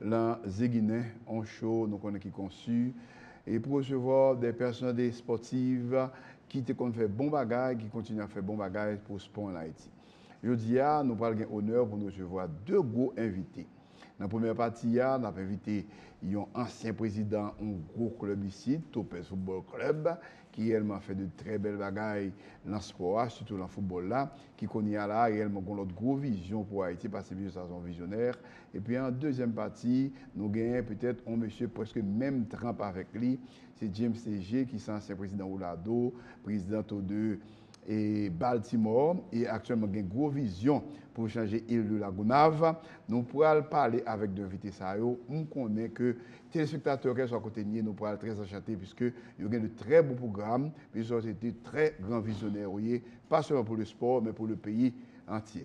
Lan Ze Ginen, on cho nou konnen ki konsi e pou resevwa de pèsonalite espòtiv ki te konn fè bon bagay, ki kontinye ap fè bon bagay pou spò ann Ayiti. Jodi a, nou pral gen onè pou n resevwa de gwo envite. Nan premyè pati a, n ap envite yon ansyen prezidan on gwo klèb isit, Topez Football Club, ki reyèlman fè de trè bèl bagay lan spò a, sitou lan foutbòl la, ki kounye a la a reyèlman gon lòt gwo vizyon pou Ayiti, pase mesye sa se yon vizyonè. Epi an dezyèm pati, nou genyen petèt on mesye prèske menm tranp avèk li, se James Léger ki se ansyen prezidan Oulado, prezidan tou de. e Baltimore e aktyèlman gen gwo vizyon pou chanje île de la Gonâve. Nou pral pale avèk 2 envite sa yo. M konnen ke telespektatè kèlkeswa kote n ye nou pral trè anchante piske yo gen de trè bon pwogram, piske yo se 2 trè gran vizyonè yo ye, pa sèlman pou le sport men pou le peyi antye.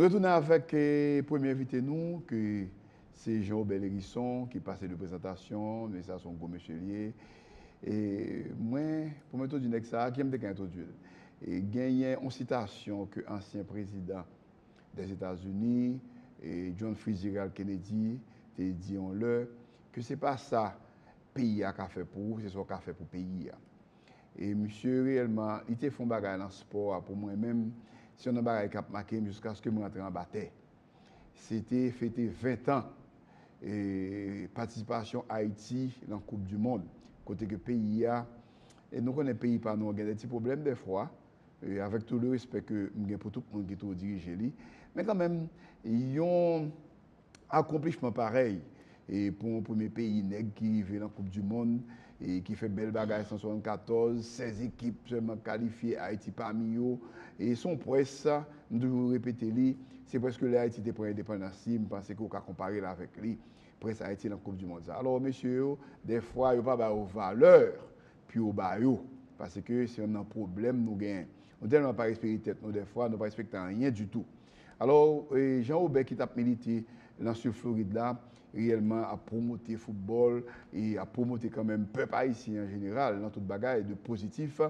Nou retounen avèk premye envite nou ki se Jean Robert Lherisson ki pase de prezantasyon, men sa son gwo mesye li ye. E mwen, pou mwen entwodui nèg sa a, kiyèm te ka entwodui l? Genyen yon sitasyon ke ansyen prezidan Lèzetazini, John Fitzgerald Kennedy, te di yon lè, ke se pa sa peyi a ka fè pou ou, se sa ou ka fè pou peyi a. E misye reyèlman, li te fè yon bagay lan spò a pou mwen menm, se yon nan bagay k ap make m jiskaske m rantre anba tè. Se te fete 20 tan patisipasyon Ayiti lan koup di mond, kote ke peyi a, e nou konnen peyi pa nou an gen de ti pwoblèm dèfwa, Avèk tout le respè ke m gen pou tout moun ki toujou dirije li, men kanmenm yon akonplishman parèy pou yon premye peyi nèg ki rive nan koup di mond, ki fè bèl bagay 174, 16 ekip sèlman kalifye, Ayiti pami yo, se yon pwès, m toujou repete li, se pwèske lè Ayiti te pran endepandans li, m panse ke ou ka konpare l avèk li, pwès Ayiti nan koup di mond sa. Alò mesye yo, dèfwa yo pa ba yo valè Pu yo ba yo. Pase ke se yon nan pwoblèm nou gen. Nou tèlman pa respekte tèt nou dè fwa, nou pa respekte anyen ditou. Alò, Jean Robert ki tap milite lan Sid Florid la, reyèlman ap pwomote foutbòl e ap pwomote kanmenm pèp Ayisyen an jeneral lan tout bagay de pozitif.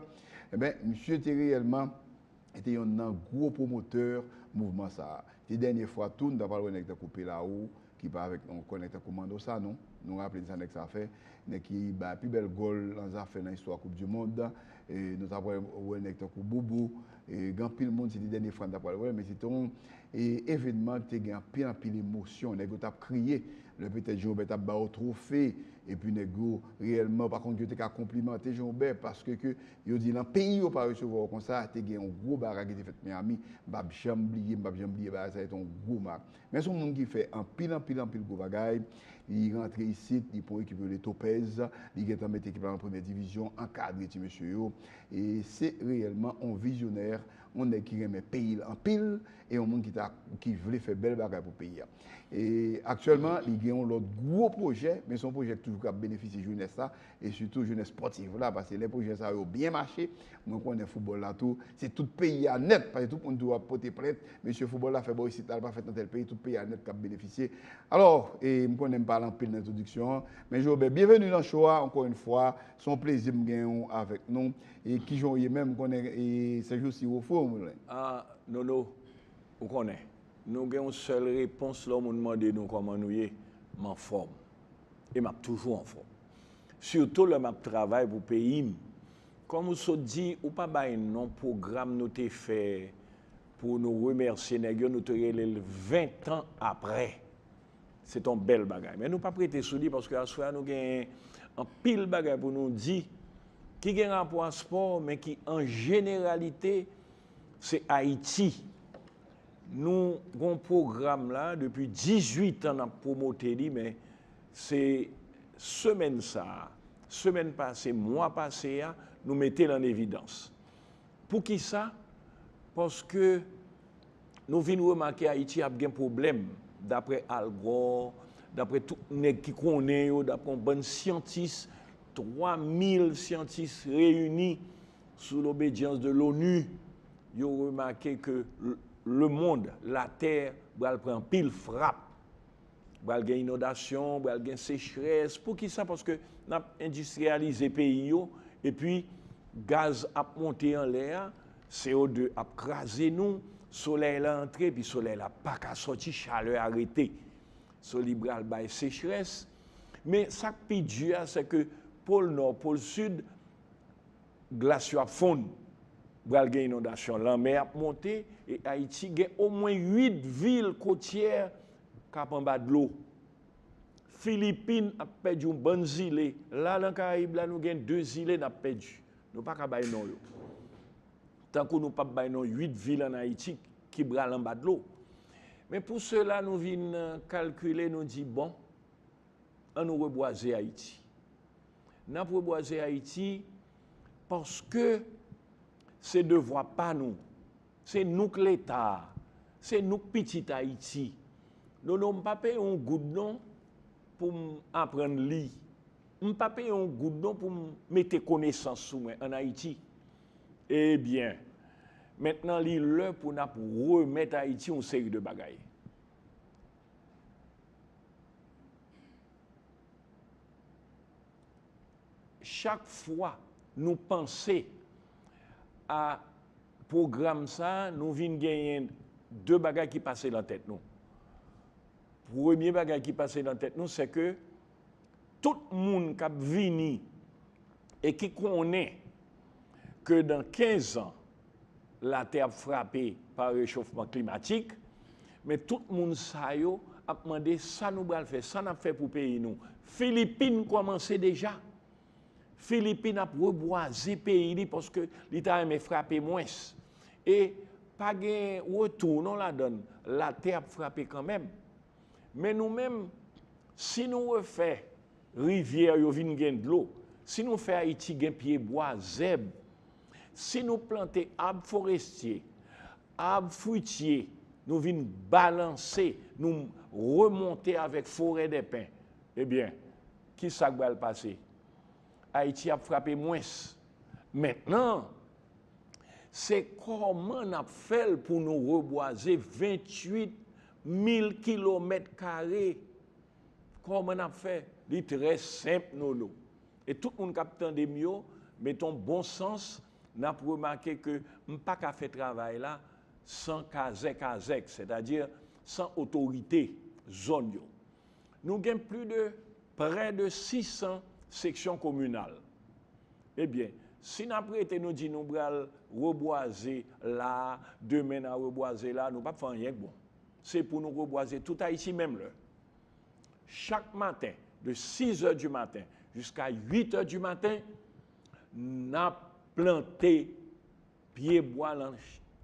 Enben, misye te reyèlman te yon nan gwo pwomotè mouvman sa a. Te dènye fwa tou, nou ta pral wè nèg tankou Pelaud, ki pa avèk yon kònèk tankou Manno Sanon. Nou raple n sa nèg sa a fè, nèg ki bay pi bèl gòl lan zafè lan istwa koup di mond. Nou ta pral wè nèg tankou Bobo, gen anpil moun se te dènye fwa n ta pral wè l men se te yon evènman ki te gen anpil anpil emosyon. Nèg yo t ap kriye lè petèt Jen Wobè t ap ba yo twofe epi nèg yo reyèlman yo pa konn ki yo te ka konplimante Jen Wobè paske ke yo di lan peyi yo pa resevwa w konsa. Te gen yon gwo bagay ki te fèt Miyami. M p ap janm bliye, m p ap janm bliye bagay sa a. Se te yon gwo ma. Men son moun ki fè anpil anpil anpil gwo bagay, li rantre isit, li pran ekip yo rele Topez, li gentan mete ekip la nan premyè divizyon, ankadre ti mesye yo, e se reyèlman yon vizyonè, yon nèg ki renmen peyi l anpil, e yon moun ki ta ki vle fè bèl bagay pou peyi a. E aktyèlman li gen yon lòt gwo pwojè, men se yon pwojè ki toujou ka benefisye jenès la, e sitou jenès spòtif la, paske lè pwojè sa yo byen mache, mwen konnen foutbòl la tou, se tout peyi a nèt, paske tout moun tou ap pote plent, mesye foutbòl la fè bò isit la, l pa fèt nan tèl peyi, tout peyi a nèt k ap benefisye. Alò, e m konnen m pale anpil nan entwodiksyon an, men Joobert, byenveni nan show a, ankò yon fwa, se yon plezi m genyen w avèk nou, e kijan w ye menm, m konnen e sè jousi w ofri w yon moulin. A, Nono, ou konnen, nou gen yon sèl repons lè yon moun mande nou kòman nou ye, m anfòm. e m ap toujou anfòm. Sitou lè m ap travay pou peyi m. Kòm ou sot di, ou pa bay non pwogram nou te fè pou nou remèsye nèg yo, nou te rele l ven tan aprè. Se te yon bèl bagay. Men nou pap rete sou li paske aswè a nou gen anpil bagay pou nou di ki gen rapò a spò men ki an jeneralite se Ayiti Nou gon pwogram la depi 18 an nap pwomote li men se semèn sa, semèn pase, mwa pase a nou mete l an evidans. Poukisa? Paske nou vin remake Ayiti ap gen pwoblèm daprè Al Gore, daprè tout nèg ki konnen yo, daprè yon bann syantis, 3 mil syantis reyini. Sous lobedyans de l'ONU yo remake ke lemond, latè, bral pran anpil frap. Bral gen inondasyon, bral gen sechrès. Poukisa? Paske nap endistriyalize peyi yo epi gaz ap monte anlè a, CO2 ap kraze nou, solèy la antre epi solèy la paka sòti, chalè a rete. So li bral bay sechrès. Men sak pi di a sèke pol nò, pol sid. glas yo ap fonn, pral gen inondasyon, lanmè ap monte e Ayiti gen omwen 8 vil kotyè k ap anba dlo. Filipin ap pèdi yon bann zile, la nan Karayib la nou gen 2 zile n ap pèdi, nou pa ka bay non yo, tankou nou p ap bay non 8 vil ann Ayiti ki pral anba dlo. Men pou sela nou vin kalkile nou di bon, an nou rebwaze Ayiti. N ap rebwaze Ayiti paske se devwa pa nou. Se nou k Leta a. Se nou k pitit Ayiti. Nono m pa peye yon goud non pou m aprann li. M pa peye yon goud non pou m mete konesans sou mwen ann Ayiti. Ebyen, mentnan li lè pou n ap remèt Ayiti yon seri de bagay. Chak fwa nou panse a pwogram sa a, nou vin genyen de bagay ki pase nan tèt nou. Premye bagay ki pase nan tèt nou, sèke tout moun k ap vini e ki konnen ke dan kenzan, latè ap frape pa rechofman klimatik, men tout moun sa yo ap mande sa nou bal fè, sa nap fè pou peyi nou. Filipin kòmanse deja, Filipin ap rebwaze peyi li paske li ta renmen frape mwens. E pa gen retou non ladann, latè ap frape kanmenm. Men nou menm, si nou refè rivyè yo vin gen dlo, si nou fè Ayiti gen pye bwa, zèb, Si nou plante ab forestye, ab fwitye, nou vin balanse, nou remonte avèk forè dè pen, ebyen, ki sa k bal pase? Ayiti ap frape mwens. Mentnan, se kòman n ap fè l pou nou rebwaze 28 mil kilomèt kare? Kòman n ap fè? Li trè senp, Nolo. E tout moun kap tande m yo, met on bon sans, nap remake ke m pa ka fè travay la san kazè kazèk, sètadi san otorite zòn yo. Nou gen pli de prè de 600 seksyon kominal. Ebyen, si nap rete nou di nou pral rebwaze la, demen na rebwaze la, nou pap fè anyen k bon. Se pou nou rebwaze tout Ayiti menm lè. Chak maten de 6 è di maten jiska 8 è di maten, n ap plante pyebwa lan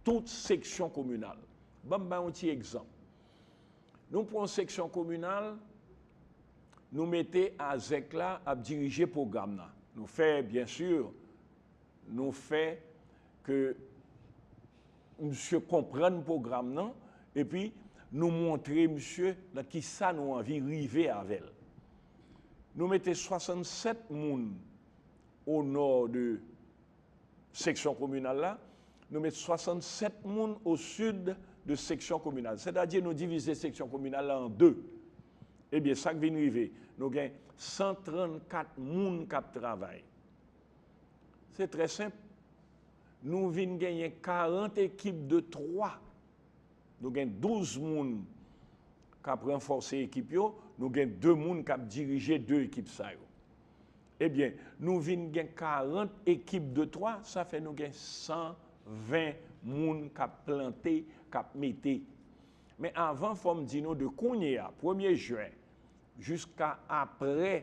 tout seksyon kominal. Ban m bay yon ti egzanp. Nou pran yon seksyon kominal, nou mete Azèk la ap dirije pwogram nan. Nou fè, byensi, nou fè ke. Misye konprann pwogram nan epi nou montre misye nan kisa nou anvi rive avè l. Nou mete 67 moun o nò de seksyon kominal la, nou met 67 moun o sid de seksyon kominal. Sètadi nou divize seksyon kominal la an 2. Ebyen sa k vin rive? Nou gen 134 moun k ap travay. Se trè senp. Nou vin genyen 40 ekip de 3. Nou gen 12 moun k ap ranfòse ekip yo. Nou gen 2 moun k ap dirije 2 ekip sa yo. Ebyen, nou vin gen 40 ekip de 3, sa fè nou gen 120 moun k ap plante, k ap mete. Men avan fò m di nou de kounye a, premye jen, jiska apre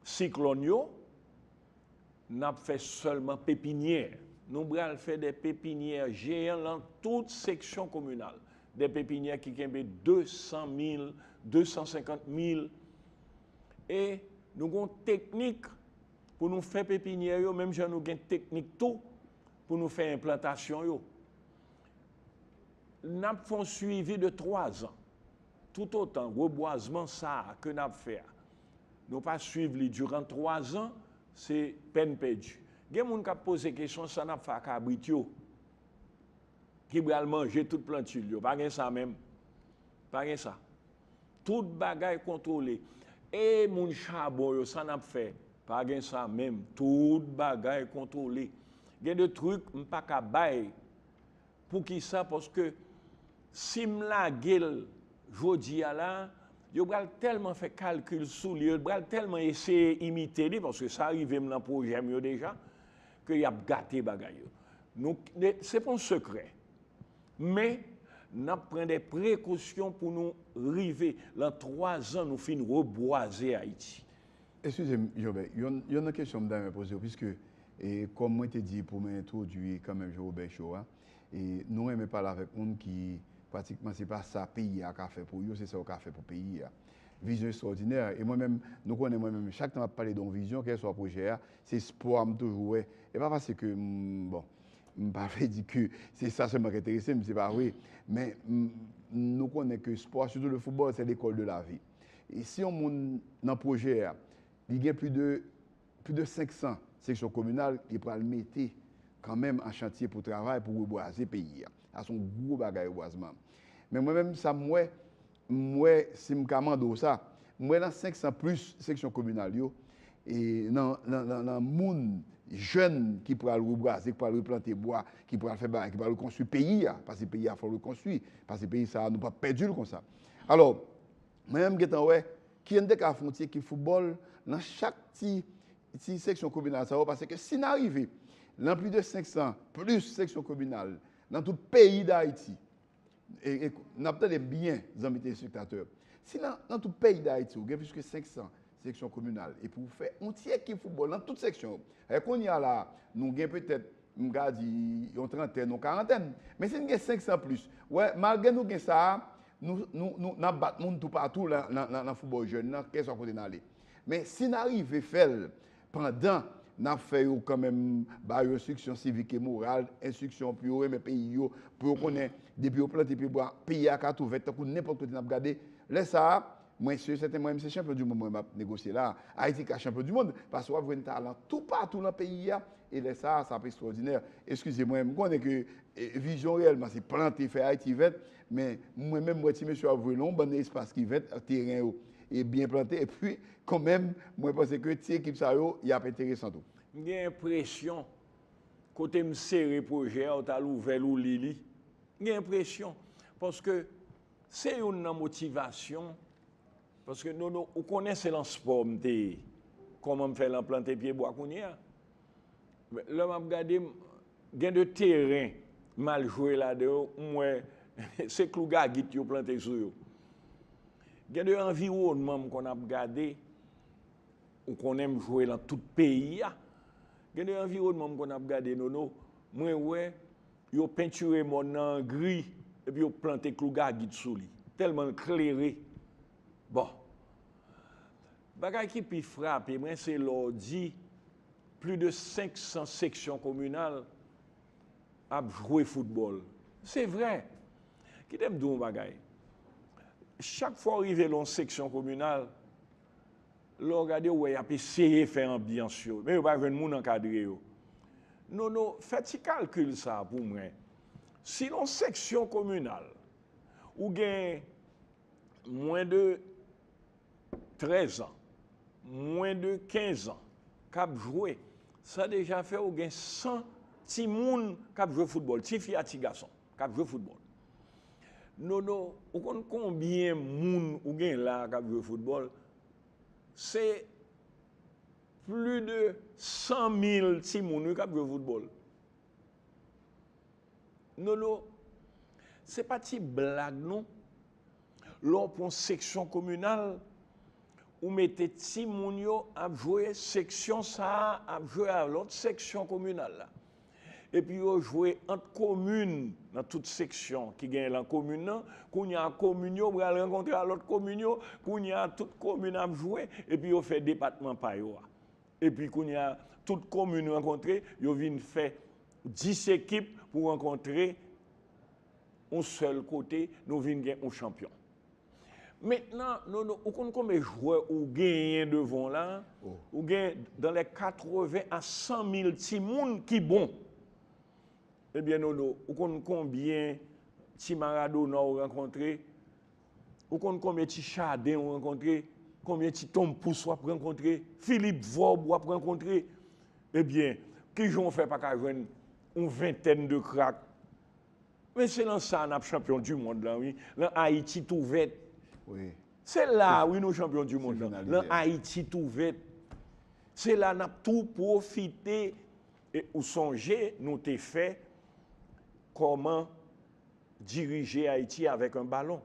siklòn yo, Nap fè sèlman pepinyè. Nou bral fè dè pepinyè jeyan lan tout seksyon kominal. Dè pepinyè ki kenbe 200 mil, 250 mil. E nou gon teknik pou nou fè pepinyè yo menm jan nou gen teknik tou pou nou fè enplantasyon yo. Nap fon swivi de 3 zan. Toutotan rebwazman sa a ke n ap fè a, nou pa swiv li diran twazan, se pèn pèdi. Gen moun k ap poze kesyon, sa n ap fè a kabrit yo ki pral manje tout plantil yo? Pa gen sa menm. Pa gen sa. Tout bagay kontwole. E moun chabon yo, sa n ap fè? Pa gen sa menm. Tout bagay kontwole. Gen de trik m pa ka bay Poukisa? Paske si m lage l jodi a la, yo pral tèlman fè kalkil sou li, yo pral tèlman eseye imite li, paske sa rive m nan pwojè m yo deja, ke y ap gate bagay yo. Nou, se pa yon sekrè. Men, n ap pran de prekosyon pou nou rive, lan twazan nou fin rebwaze Ayiti. Eskize m Jean Robert, yonn nan kesyon m ta renmen poze w piske kòm mwen te di pou mwen entwodui kanmenm Jean Robert Show a, nou renmen pale avèk moun ki pratikman se pa sa peyi a ka fè pou yo, se sa yo ka fè pou peyi a. Vizyon estwòdinè, e mwen menm nou konnen mwen menm chak tan m ap pale de yon vizyon kèlswa pwojè a, se espwa m toujou wè, e pa paske m bon m pa vle di ke se sa sèlman ki enterese m, se pa vre men nou konnen ke espwa sitou le foutbòl se lekòl de lavi. E si yon moun nan pwojè a, li gen pli de pli de 500 seksyon kominal li pral mete kanmenm an chantye pou travay pou rebwaze peyi a. Sa son gwo bagay rebwazman. Men mwen menm sa m wè, m wè si m ka mande w sa, m wè nan 500 plis seksyon kominal yo, e nan nan nan moun jèn ki pral rebwaze, ki pral replante bwa, ki pral fè bagay, ki pral rekonstwi peyi a, pase peyi a fò l rekonstwi, pase peyi sa a nou pap pèdi l konsa. Alò, mwen menm m gentan wè kijan n te ka fon ti ekip foutbòl nan chak ti ti seksyon kominal sa yo paske si na rive nan plis de 500 plis seksyon kominal nan tout peyi dayiti e n ap tande m byen zanmi telespektatè si nan tout peyi dayiti ou gen plis ke 500 seksyon kominal epi ou fè yon ti ekip foutbòl nan tout seksyon yo e kounye a la nou gen petèt m ka di yon trantèn ou karantèn, men si n gen 500 plis, wè malgre nou gen sa a, nou n ap bat moun toupatou nan foutbòl jèn nan, kèlkeswa kote n ale. Men si n arive fè l pandan n ap fè yo kanmenm ba yo enstriksyon sivik e moral, enstriksyon pou yo renmen peyi yo, pou yo konnen depi yo plante pyebwa, peyi a ka tou vèt tankou nenpòt kote n ap gade, lè sa a, Mwen si e sèten mwen menm se chanpyon du mond mwen map negosye la. Ayiti ka chanpyon du mond paske wap jwenn talan tou patou lan peyi a e lè sa a sa ap ekstwòdinè. Eskize mwen, m konnen ke vizyon reyèlman se plante, fè Ayiti vèt men mwen menm m wè ti mesye yo ap vwe lan yon bann espas ki vèt ak teren yo e byen plante epi kan menm mwen panse ke ti ekip sa yo y ap enteresan tou. M gen enpresyon kote m sere pwojè a ou t al ouvè l ou li li. M gen enpresyon paske. Se youn nan motivasyon paske Nono ou konnen se lan spò m te kòman m fè lan plante pye bwa kounye a lè map gade gen de teren m al jwe ladan yo m wè se klou gagit yo plante sou yo gen de anviwònman m konn ap gade ou konnen m jwe lan tout peyi a gen de anviwònman m konn ap gade Nono mwen wè Yo pentire mòn nan an gri epi yo plante klou gagit sou li, tèlman l klere. Bon, bagay ki pi frape mwen se lè w di pli de 500 seksyon kominal ap jwe foutbòl. Se vre! Kite m di w yon bagay, chak fwa w rive lè yon seksyon kominal, Lè w gade ou wè y ap eseye fè anbyans yo, men yo pa jwenn moun ankadre yo. Nono, fè ti kalkil sa a pou mwen, si nan yon seksyon kominal ou gen mwen de 13 an, mwen de 15 an k ap jwe, sa deja fè ou gen 100 timoun k ap jwe foutbòl, tifi ak tigason k ap jwe foutbòl. Nono ou konn konbyen moun ou gen la kap jwe foutbòl se pli de 100 mil ti moun wi kap jwe foutbòl Nono se pa ti blag non lè w pran seksyon kominal ou mete ti moun yo ap jwe seksyon sa ap jwe a lòt seksyon kominal la. Epi yo jwe ant komin nan tout seksyon ki genyen lan komin nan, kounye a komin yo pral rankontre a lòt komin yo, kounye a tout komin ap jwe epi yo fè depatman pa yo a. Epi kounye a tout komin rankontre yo vin fè 10 ekip pou rankontre yon sèl kote nou vin gen yon chanpyon. Mentnan Nono ou konn konbe jwè ou genyen devan w la? Ou gen dan lè 80 a 100 mil timoun ki bon. Ebyen Nono ou konn konbyen ti Maradona ou rankontre? Ou konn konbyen ti Chardin ou rankontre? Konbyen ti Tom Pouce w ap rankontre? Philippe Vorbe w ap rankontre? Ebyen kijan w fè pa ka jwenn yon ventèn de krak? Men se lan sa nap chanpyon du mond lan wi, lan Ayiti tou vèt. Se la wi nou chanpyon du mond lan, lan Ayiti tou vèt. Se la nap tou pwofite e ou sonje nou te fè koman dirije Ayiti avèk an balon.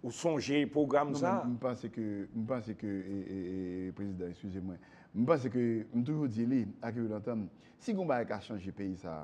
Ou sonje pwogram sa? Non men m panse ke, m panse ke prezidan eskize mwen, m panse ke m toujou di li ak yo lantan m, si gon bagay ka chanje peyi sa,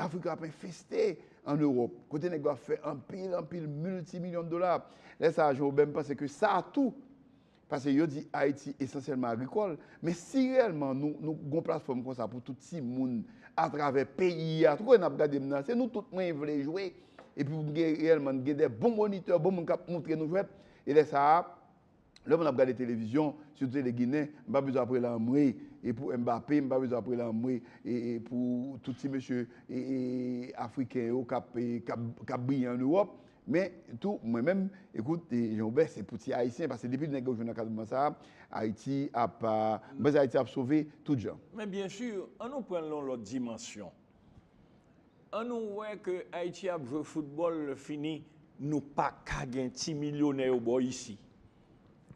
Afrika ap enfeste an Ewop, kote nèg yo ap fè anpil, anpil milti milyon dola. Lè sa a Jon Obè m panse ke sa a tou, pase yo di Ayiti esansyèlman agrikòl, men si reyèlman nou, nou gon platfòm konsa pou tout ti moun atravè peyi a, tout kote n ap gade m nan, se nou tout mwen vle jwe, epi pou m gen reyèlman, gen de bon monitè, bon moun k ap montre nou jwèt, e lè sa a, Lè moun ap gade televizyon, sitou tele ginen, m pa bezwen ap rele anmweyy e pou Mbappé, m pa bezwen ap rele anmweyy e pou tout ti mesye afriken yo k ap briye an Ewòp. Men tou mwen menm, ekout Jean Robert, se pou ti Ayisyen, paske depi nèg yo jwenn ankadreman sa a, Ayiti ap, mwen panse Ayiti ap sove tout jan. Men byen sur, an nou pran l nan yon lòt dimansyon. An nou wè ke Ayiti ap jwe foutbòl lè fini nou pa ka gen ti milyonè yo bò isi.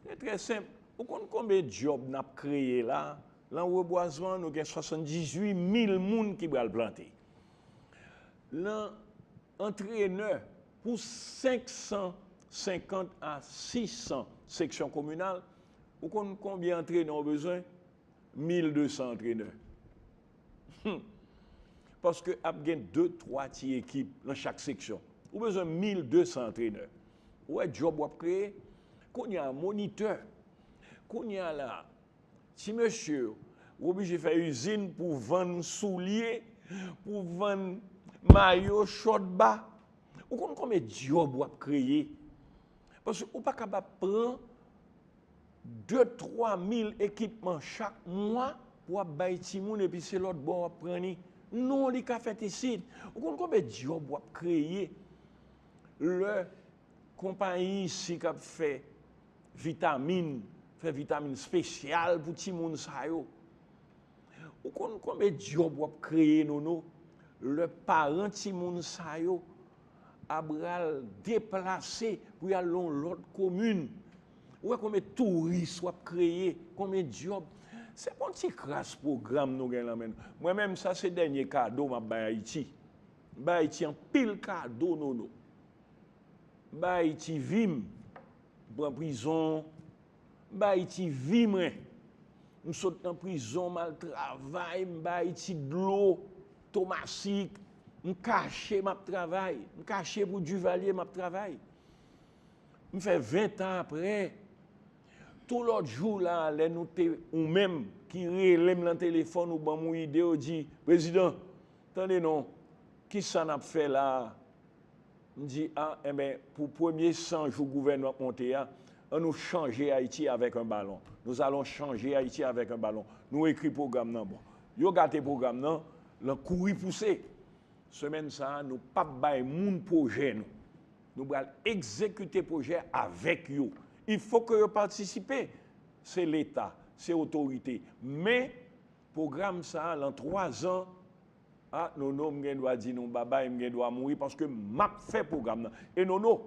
Se trè senp, ou konn konben djòb n ap kreye la, lan rebwazman nou gen 78 mil moun ki bral plante. Lan antrenè pou 550 a 600 seksyon kominal, ou konn konbyen antrenè ou bezwen? 1200 antrenè. Hum! Paske ap gen 2, 3 ti ekip nan chak seksyon. Ou bezwen 1200 antrenè. Ou wè djòb wap kreye? Kounye a monitè. Kounye a la, ti mesye yo, ou oblije fè izin pou w vann soulye, pou w vann mayo, chòt, ba. Ou konn konbyen djòb wap kreye? Paske ou pa kab ap pran. De twa mil ekipman chak mwa pou ap bay timoun epi se lòt bò w ap pran li. Non li ka fèt isit. Ou konn konbe dyòb w ap kreye lè konpayi isi k ap fè vitamin, fè vitamin espesyal pou timoun sa yo. Ou konn konbe dyòb w ap kreye Nono lè paran timoun sa yo a bral deplase pou yal nan yon lòt komin. Ou wè konbyen touris wap kreye, konbyen dyòb. Se pa yon ti kras pwogram nou gen lan men nou. Mwen menm sa se dènye kado map bay Ayiti. M bay Ayiti anpil kado Nono. M bay Ayiti vi m. M pran prizon, M bay Ayiti vi mwen. M sot nan prizon, m al travay, m bay Ayiti dlo, tomasik, m kache m ap travay, m kache pou Duvalier m ap travay. M fè ventan aprè, tou lòt jou la a lè nou te ou menm ki rele m nan telefòn ou ban m yon ide ou di, Prezidan, tande non, kisa n ap fè la a? M di a enben pou premye 100 jou gouvènman k monte a an nou chanje Ayiti avèk 1 balon. Nous allons changer Haïti avec un ballon. Nou ekri pwogram nan bon. Yo gate pwogram nan lan kouri pouse. Semèn sa a nou pa p bay moun pwojè nou. Nou pral egzekite pwojè avèk yo. Il faut que yo patisipe. Se leta, se otorite. Men pwogram sa a lan 3 zan Ah Nono m gen dwa di nou babay m gen dwa mouri paske map fè pwogram nan e Nono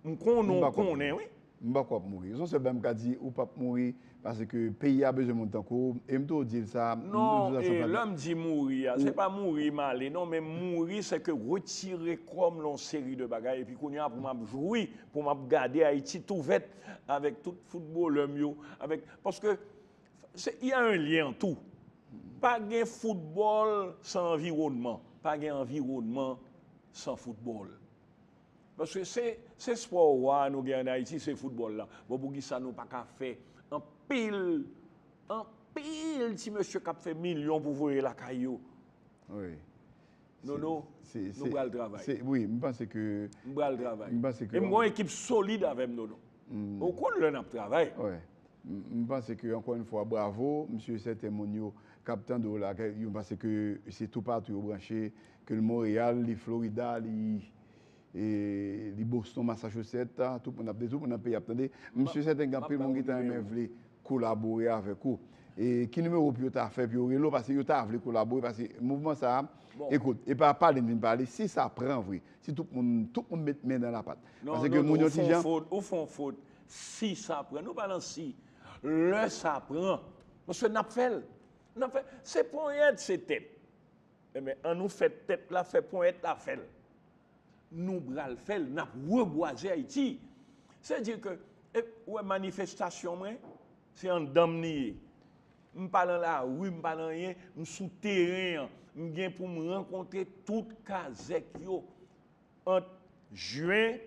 m konnen w konnen wi. M pako ap mouri. Son sèl bagay m ka di ou pap mouri paske peyi a bezwen moun tankou w e m toujou di l sa. Non e lè m di mouri a se pa mouri m ale non men mouri se ke retire kò m lè yon seri de bagay epi kounye a pou m ap jwi pou m ap gade Ayiti tou vèt avèk tout foutbolè m yo avèk paske Se y a un lien an tou. Pa gen foutbòl san anviwònman. Pa gen anviwònman san foutbòl. Paske se se spò wa a nou gen ann Ayiti se foutbòl la. Bon poukisa nou pa ka fè anpil anpil ti mesye k ap fè milyon pou voye lakay yo. Wi. Nono, nou pral travay. Wi, m panse ke. M pral travay. M panse ke. E m gon ekip solid avè m Nono. Ou konn lè n ap travay. Wi. M panse ke ankò yon fwa bravo. M si e sèten moun yo k ap tande w la, yo panse ke se toupatou yo branche, ke li Monreyal, li Florida, li. E li Boston Massachusetts a tout moun ap de tout moun nan peyi ap tande m sur sèten gen anpil moun ki ta renmen vle kolabore avèk ou e ki nimewo pou yo ta fè pou yo rele w pase yo ta vle kolabore pase mouvman sa ekout e pa pale m vin pale si sa pran vre si tout moun tout moun met men nan la pat pase ke moun yon ti jan ou fon fot si sa pran nou pa nan si lè sa pran paske n ap fè l n ap fè se ponyèt se tèt e men an nou fè tèt la fè ponyèt la fè l. Nou bral fèl nap rebwaze ayiti se di ke et ou wè manifestation mwen se andanm li ye m pa nan la rue m pa nan anyen m sou teren an m gen pou m rankontre tout kazèk yo ant juin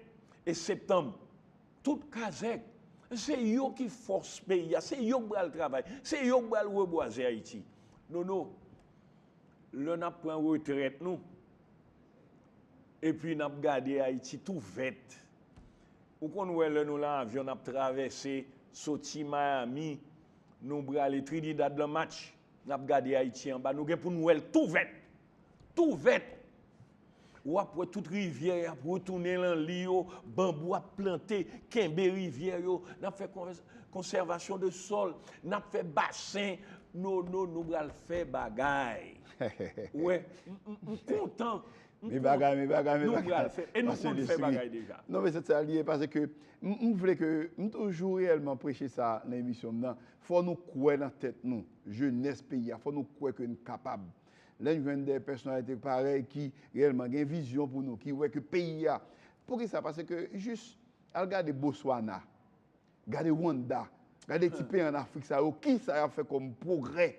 et septembre tout kazèk se yo ki fòs peyi a se yo ki bral travay se yo ki bral rebwaze ayiti Dodo lè nap pran retrèt nou. Epi nap gade Ayiti tou vèt. Ou konn wè lè nou lan avyon nap travèse soti Miami nou brale Trinidad lan match. Nap gade Ayiti anba nou gen poun wèl tou vèt. Tou vèt. Wap wè tout rivyè yap retounen lan li yo, banbou ap plante, kenbe rivyè yo, nap fè konsèvasyon de sòl, nap fè basen, no no nou bral fè bagay. Ou wè, m kontan. M kontan. Nou pral fè. E nou konn fè bagay deja. Non men se sa li ye. Pase ke m vle ke m toujou reyèlman preche sa nan emisyon m nan. Fò nou kwè nan tèt nou. Jenès peyi a. Fò nou kwè ke nou kapab. Lè nou jwenn de pèsonalite parèy ki reyèlman gen vizyon pou nou. Ki wè ke peyi a. Pou ki sa? Pase ke jis al gade Boswana. Gade Wanda. Gade ti peyi an Afrik sa yo. Ki sa y ap fè kòm pwogrè?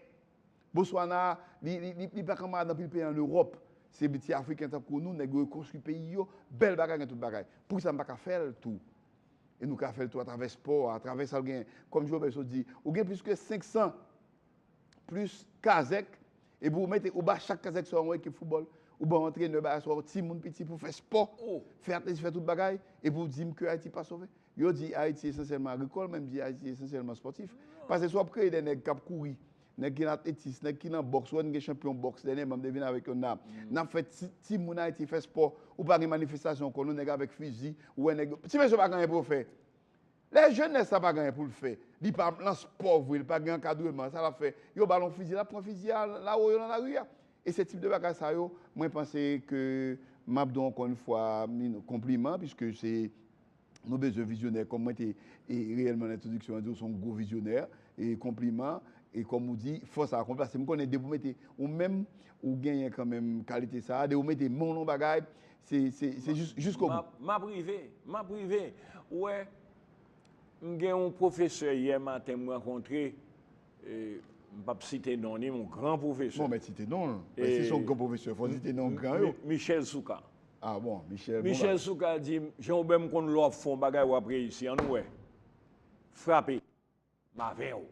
Botswana, li pa kanmarad anpil peyi an Ewòp. Se ti Afriken tankou nou, nèg yo rekonstwi peyi yo, bèl bagay gen tout bagay. Poukisa nou pa ka fè l tou? E nou ka fè l tou atravè spò a, atravè sa l genyen. Kòm Jovenel sot di, ou gen plis ke 500 plis kazèk, epi ou mete, ou ba chak kazèk sa yo yon ekip foutbòl, ou ba yon antrenè, ba yon timoun piti pou fè spò, fè atletis, fè tout bagay, epi ou di m ke Ayiti pa sove? Yo di Ayiti esansyèlman agrikòl, men m di Ayiti esansyèlman spòtif. Paske si w ap kreye de nèg k ap kouri, Nèg ki nan atletis, nèg ki nan bòks, wè n gen chanpyon bòks dènyèman m te vin avèk yon dam. N ap fè ti ti moun Ayiti fè spò, ou pa gen manifestasyon ankò non nèg avèk fizi, ou wè nèg yo. Ti mesye pa gen anyen pou yo fè. Lè jenès la pa gen anyen pou l fè, li pa nan spò vre, li pa gen ankadreman, sa l ap fè? Yo ba l yon fizi, l ap pran fizi a l a woyo nan lari a. E se tip de bagay sa yo mwen panse ke m ap di w ankò yon fwa konpliman piske se Nou bezwen vizyonè kòm mwen te reyèlman nan entwodiksyon an di ou son gwo vizyonè e konpliman e kòm ou di fòs akonpli paske m konnen depi ou mete ou menm ou genyen kanmenm kalite sa depi ou mete men w nan yon bagay se se jiskobou. M ap rive, m ap rive ou wè m gen yon pwofesè yè maten m rankontre m p ap site non li yon gran pwofesè Bon men site non l men si son gran pwofesè fò w site non gran yo Michel Soukar Ah bon, Michel bon bagay. Michel Soukar di m, Jean Obert m konn lè w ap fè yon bagay w ap reyisi, an nou wè. Frape. M avè w.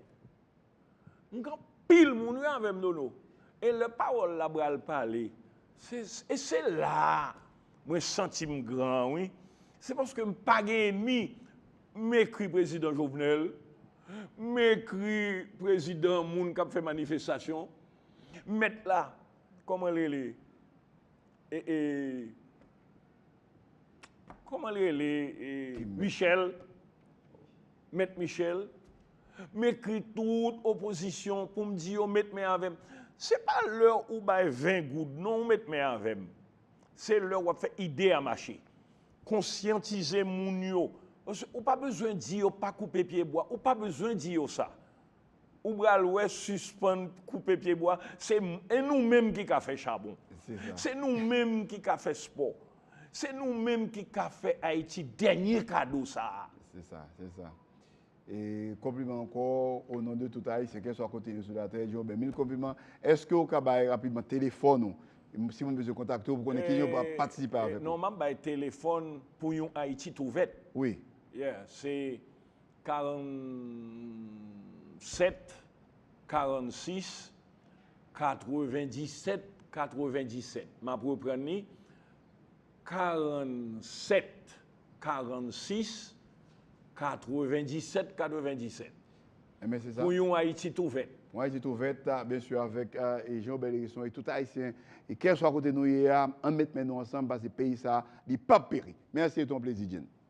M gen anpil moun wi avè m Nono. E lè pawòl la pral pale, se, e se la a mwen santi m gran an wi. Se paske m pa gen enmi. M ekri prezidan Jovenel, m ekri prezidan moun k ap fè manifestasyon, m mèt la, kòman l rele? E Koman li rele e Michel Met Michel m ekri tout opozisyon pou m di yo met men avèm se pa lè ou bay 20 goud non ou met men avèm se lè wap fè ide a mache konsyantize moun yo ou pa bezwen di yo pa koupe pye bwa ou pa bezwen di yo sa ou pral wè sispann koupe pye bwa se e nou menm ki ka fè chabon se nou menm ki ka fè spò se nou menm ki ka fè ayiti dènye kado sa a se sa se sa e konpliman ankò o non de tout ayisyen kèlswa kote yo sou latè jò ben mil konpliman èske ou ka bay rapidman telefòn ou si moun bezwen kontakte ou pou konnen ki jan yo ka patisipe avèk ou non map bay telefòn pou yon ayiti tou vèt wi yè se 47 46 97 97 m ap reprann li 47 46 97 97 Enben se sa. pou yon Ayiti tou vèt. Yon Ayiti tou vèt, byen si avèk Jean Obed Hérisson e tout Ayisyen e kèlswa kote nou ye a, ann met men nou ansanm pase peyi sa a li pap peri. Mèsi e te yon plezi Jeen.